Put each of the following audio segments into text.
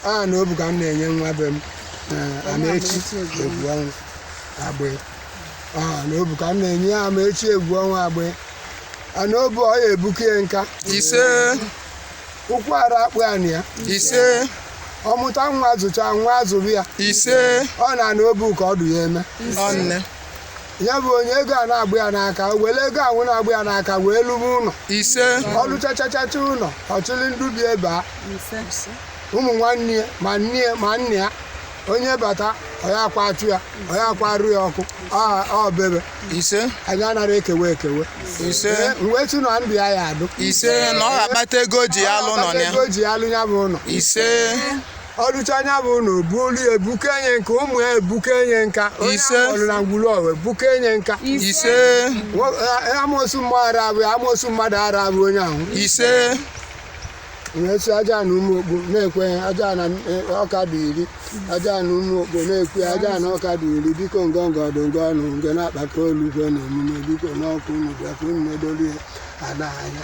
a na obu ka m na-enye nwa be m eh, Amaechi Egwuọnwụ agbe a na obu ka m na-enye ya Amaechi Egwuọnwụ agbe a na obu ọ ya ebuke ya nka ise ụkwụ ara akpụ ya na ya ise ọ mụta nwa zụcha nwa azụrụ ya ise ọ na na obu ka ọ dụ ya eme ọnne ya bụ onye ego a na-agbụ ya n'aka o were ego ahụ na-agbụ ya n'aka wee lụba ụlọ ise ọ lụchachachacha ụlọ ọ chịrị ndụ bi ebe a ụmụ nwanne ya ma nne ya ma nna ya onye bata ọya akwa achụ ya ọya akwa arụ ya ọkụ ọ- ọ bebe ise anyị anara ekewe ekewe ise Ee, m wee sị na ndụ ya ya adụ ise na ọ ga-akpata ego o ji ya alụ ụnọ na ya ego ji ya alụ ya bụ ụlọ ise ọ lụcha ya bụ ụnọ o buolu ya ebuke enye nka ụmụ ya ebuke enye nka onye Ise. akpọrọ na ngwulu ọwa ebuke enye nka ise Nwo- eh, amoosu mmadụ ara abụ ya amoosu mmadụ ara abụ onye ahụ ise na-eso aja na ụmụ okpo na-ekwe ya aja na eh, ọka dị iri aja na ụmụ okpo na-ekwe ya aja na ọka dị iri biko ngọngọ ọdụ ngọ ọnụ ngọ na-akpata olu gwe na omume biko n'ọkụ unu bịa ka unu na-edoli ya ada anya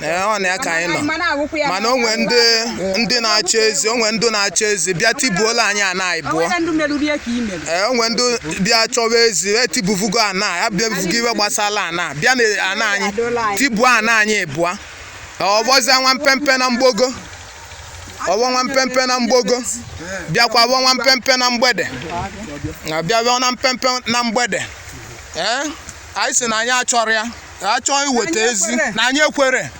ee ọ na ya ka anyị nọ Mana awụkwụ ya mana o nwe ndị ndị na-achọ ezi o nwe ndị na-achọ ezi bịa tibuola anyị ana anyị bụọ O nwere ndị merụrụ ihe ka i mere. ee o nwe ndị bịa chọwa ezi etibuvugo ana ya bịa buvugo iwe gbasara ana bịa na ana anyị tibuo ana anyị bụọ ọ vọzie nwa mpempe na mgbogo ọ vọ nwa mpempe na mgbogo bịakwa vọ nwa mpempe na mgbede na bịa bịa na mpempe na mgbede ee anyị si na anyị achọrọ ya a chọọ iweta ezi na anyị ekwere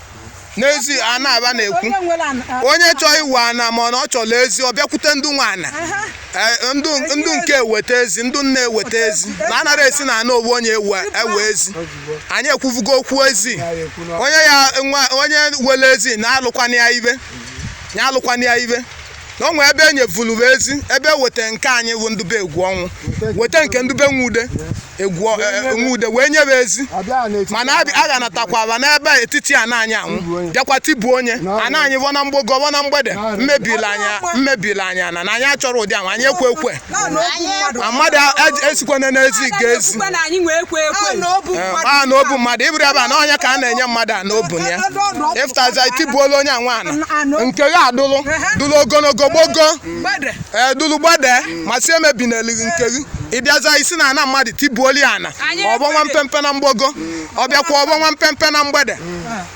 n'ezi a na-aba na-ekwu onye nwere ana a- onye chọọ iwe ana ma ọ na ọ chọrọ ezi ọ bịakwute ndị nwe ana aha Eh, ndụ ndụ nke eweta ezi ndụ nne eweta ezi na anara esi na ana ovu onye ewe ewe ezi anyị ekwuvugo okwu ezi onye ya nwa onye wele ezi na-alụkwana ya ibe ya alụkwana ya ibe na o nwee ebe e nyevuru m ezi ebe e weta nke anyị bụ Ndube Egwuọnwụ weta nke Ndube Nwa Ude egwu ọ- e- e- Nwa Ude wee nye m ezi abịa n'etiti mana a a ga-anatakwara n'ebe etiti ana anyị anwụ bịakwa tibuo onye ana anyị vọ na mgbogo vọ na mgbede mebiri anyị mebiri anyị ana na anyị achọrọ ụdị ahụ anyị ekwe ekwe naanị okwu Anyị mmadụ a mmadụ a- esikwana n'ezi ga ezi Ekwukwe na anyị nwee ekwe ekwe naanị okwu Ee, mmadụ a na obu mmadụ ị bụrụ ebe a na onye ka a na-enye mmadụ a na obu ya ị fụtaza i tibuola onye anwa ana nke gị adụlụ dụlụ ogologo gbogo mgbede ee dụlụ gbede ma si emebi n'elighị nke gị ị bịaza i si na ana mmadụ tibuoli ya ana Anyị ọ vọ nwa mpempe na mgbogo ọ bịakwa ọ vọ nwa mpempe na mgbede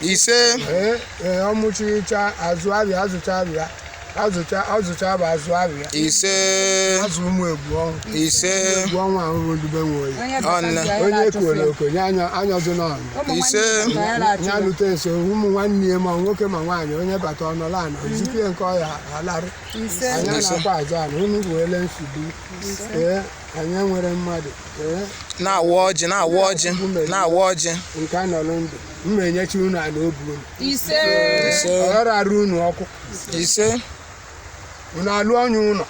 ise ee ee ọ mụchicha azụ abịa azụcha abịa azụcha azụcha bụ azụ abịa ise azụ ụmụ Egwuonwu ise Egwuonwu ahụ bụ ndube Nwoye Onye Ọnne. bata ya onye na-achụfe. kwere okenye anya anyọzụ n'ọnụ Ụmụ nwanne Ise. ya bata ya na-achụ ya. ya lute nso ụmụ nwanne ya ma nwoke ma nwaanyị onye bata ọ nọla ana o zipụ ya nke ọ ya alarụ Ise. anyị na-akwa azụ ana unu bụ ele nsogbu ee anyị enwere mmadụ ee na-awa ọjị na-awa ọjị na-awa ọjị nke anọrọ ndụ m enye chi unu ana obu unu ise ọ ghara arụ unu ọkụ ise unu alụ ọnya ụlọ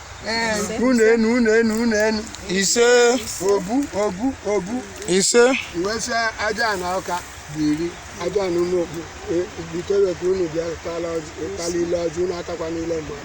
unu enu unu enu unu enu ise obu obu obu ise wesịa Ajana Ọka biri Ajana Ụmụokpu butere ka unu bịa tala ile ọjị unu atakwana ile mgbe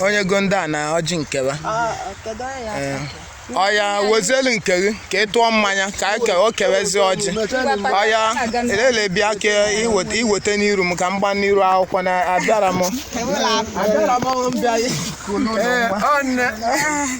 onye go ndị ana ọjị nke a oya wezelu nke gị ka ị tụọ mmanya ka o kewezi ọjị oya elele bịa ka i weta n'iru m ka m gba n'iru akwụkwọ na abịara m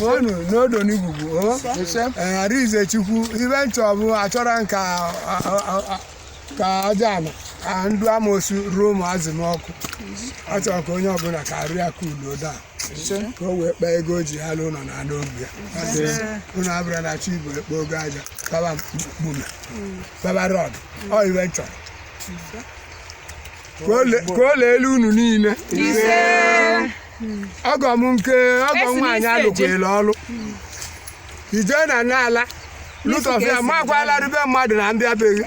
unu n'Udo n'Ogwugwu Arinze Chukwu ife m chọ bụ achọrọ m ka ka aja ama ka ndị amoosu ruo ụmụazị m ọkụ ọ chọrọ ka onye ọbụla ka arụ ya ka udo daa ka o wee kpaa ego o ji alụ ụlọ na ana obi ya unu abụrụ na Chigbo ekpogo aja kpaba mkpume kpaba rọd ọ ife m chọrọ ka o le- ka o leelu unu niile ọgọ m nke ọgọ Esi nwaanyị n'isi eje. alụkwere ọrụ ije na n'ala lụtọf ya makwa alarụ be mmadụ na m bịabeghị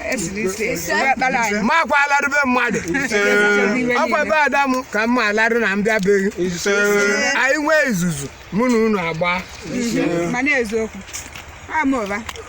makwa alarụ be mmadụ ọkwa ebe ada m ka m ma alarụ na m bịabeghị anyị nwee izuzu mụ na unu agba mana eziokwu ama ụba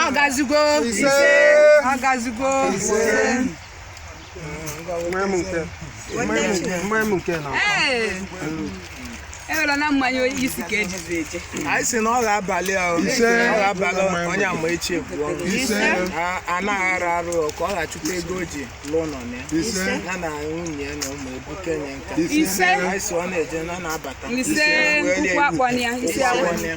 ọ gazigo ọ gazigo ewela na mmanya isi ka ejizi eje anyị si na ọ ga-abalị ahụ ọ ga-abalị Onyemaechi Egwuonwu a na-aghara arụ ka ọ ga-achụta ego o ji lụọ ụlọ na ya ya na nwunye ya na ụmụ ebu kenye nka ise anyị si ọ na-eje na na-abata ise ụkwụ akpọna ya isi akpọna ya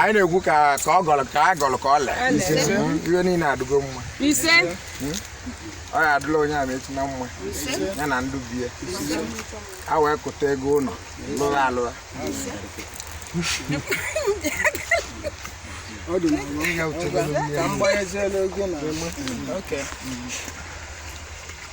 anyị na-ekwu ka ka ọ gọrọ ka a gọrọ ka o lee ife niile adịgo mma hmm? ọ ya adịla Onyemaechi na mma ya na ndị be ya wee kụta ego ụlọ lụrụ alụra ọ dị na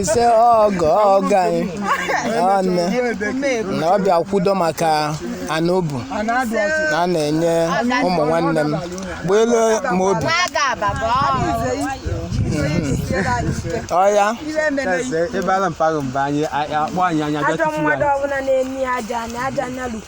ise ọgọ ọgọ anyị nwanne na ọ bịa kwudo maka ana obu na a na-enye ụmụ nwanne m gbuelu m obi ọya ebe ala mpaghara mba anyị akpọ anyị anya ajọ mmadụ ọbụla na-eme ya aja anya aja anya lukwu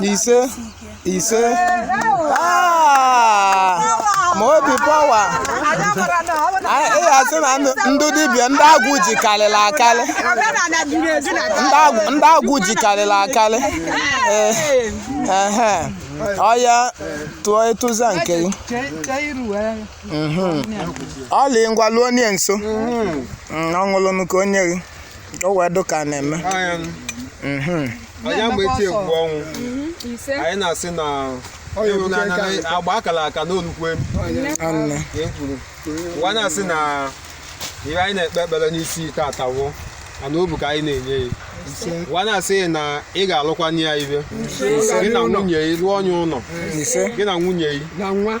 ise ise Ah! ma obi pawa ị ga-asị na ndị- ndị dibịa ndị agwụ ji karịrị akarị Omenala juru eju na ndị agwụ- ndị agwụ ji karịrị akarị Ee, ehe. ọya tụọ ịtụza nke gị Mhm. ọlị ngwa lụọ onye nso Mm, ọ ṅụlụnụ ka onye gị o wee dụ ka a na-eme Anyị Mhm. Onyeamaechi Egwuọnwụ anyị na-asị na ewu na anaghị agba akara aka n'olukwe Anne. ka e kwuru ụwa na-asị na ihe anyị na-ekpe ekpere n'isi taata wo ma ana obu ka anyị na-enye ya ụwa na-asị na ị ga-alụkwanye ya ibe gị na nwunye ya lụọ onye ụlọ ise gị na nwunye ya na nwa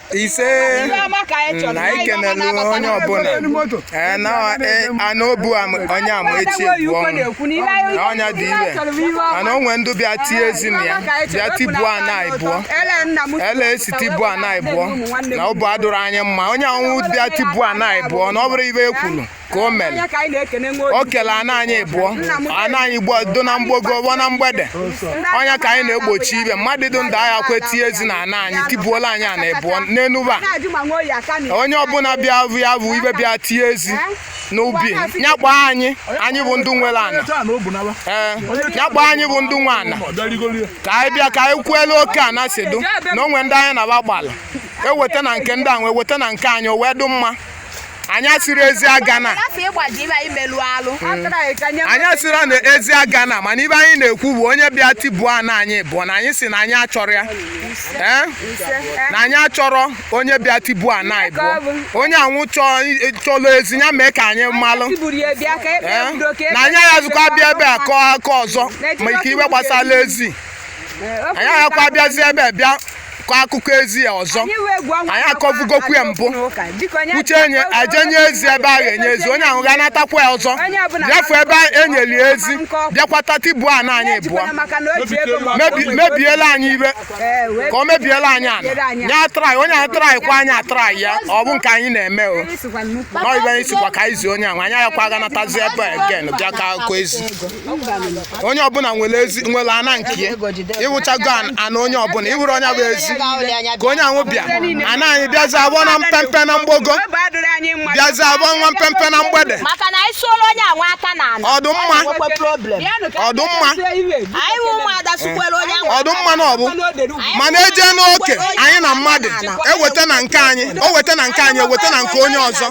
ise na anyị kenelu onye ọbụla ana obu Onyeamaechi Egwuọnwụ na ọ nya dị ire mana o nwe ndị bịa tie ezi na ya bịa tibuo ana ịbụọ ele e si tibuo ana ịbụọ na obu adụrụ anyị mma onye anwụ bịa tibuo ana ịbụọ na ọ bụrụ ibe e kwuru ka o mere Anya ka anyị na-ekene nwa o obi. kele ana anyị ịbụọ ana anyị gbuo do na mgbogo gbuo na mgbede ọ nya ka anyị na-egbochi ibe mmadụ dị ndụ aghakwa tie ezi na ana anyị tibuola anyị ana ịbụọ n'enuba Na-ajụ ma nwa oyi aka na onye ọbụla bịa bụ ya bụ ibe bịa tie ezi n'ubi ya kpọọ anyị anyị bụ ndị nwere ana Onye taa na o bu n'ala. ee ya kpọọ anyị bụ ndị nwe ana Ọ bịa rigoro ya. ka anyị bịa ka anyị kwuelu oke ana si dụ na o nwe ndị anyị na-agba gbala eweta na nke ndị a wee weta na nke anyị o wee dụ mma anyị asịrị ezi agana anyị asịrị na ezi agana mana ibe anyị na-ekwu bụ onye bịa tibuo ana anyị ịbụọ na anyị si na anyị achọrọ ya Eh? na anyị achọrọ onye bịa tibuo ana ịbụọ onye anwụ chọlụ ezi ya mee ka anyị malụ eh? na anyị aghazikwa bịa ebe a kọọ aka ọzọ ma ike ibe gbasara ezi eh, anyị aghakwa bịazi ebe bịa kọ akụkọ ezi ya ọzọ anyị akọvugokwu ya mbụ uche enye a je-enye ezi ebe a ga-enye ezi onye ahụ ga-anatakwa ya ọzọ bịafu ebe e nyeli ezi bịakwata tibuo ana anyị ịbụọ mebiela anyị ibe ka ọ mebiela anyị ala nye atrai onye ahụ trai kwa anyị atrai ya ọ bụ nke anyị na-eme o nọibe anyị sikwa ka anyị zi onye ahụ anyị agakwa aganatazi ebe again bịa kọ akụkọ ezi onye ọbụla nwere ezi nwere ana nke ya ịwụchago ana onye ọbụla ịwụrụ onye bụ ezi ka onye ahụ bịa ana anyị bịazi abụọ na mpempe na mgbago bịazi abụọ nwa mpempe na mgbede ọdụmma ọdụmma ọdụmma na ọbụ mana eje n'oke anyị na mmadụ eweta na nke anyị o weta na nke anyị eweta na nke onye ọzọ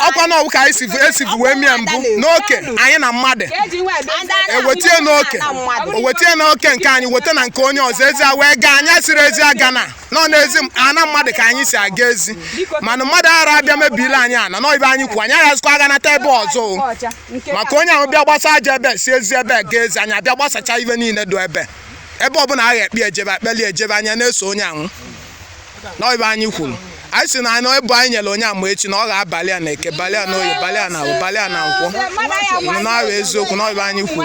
ọkwa na ọwụ ka anyị si esivu wee mie mbụ n'oke anyị na mmadụ ewetie n'oke owetie n'oke nke anyị weta na nke onye ọzọ ezi a wee gaa anyị asịrị ezi aga na nọ n'ezi m- ana mmadụ ka anyị si aga ezi mana mmadụ ara abịa mebiri anyị ana na ọ ive anyị kwu anyị aghazikwa aga nata ebe ọzọ o. maka onye ahụ bịa gbasa aja ebe si ezi ebe ga ezi anyị abịa gbasacha ibe niile do ebe ebe ọbụla agha ekpe ejebe ekpeli ejebe anyị ana-eso onye ahụ na ọbụ ive anyị kwuru anyị sị na anyị ebe anyị nyere Onyeamaechi na ọ ga-abalị a na eke balị a na oye balị a na awọ balị a na nkwọ na ọbụ eziokwu na ọbụ ive anyị kwuru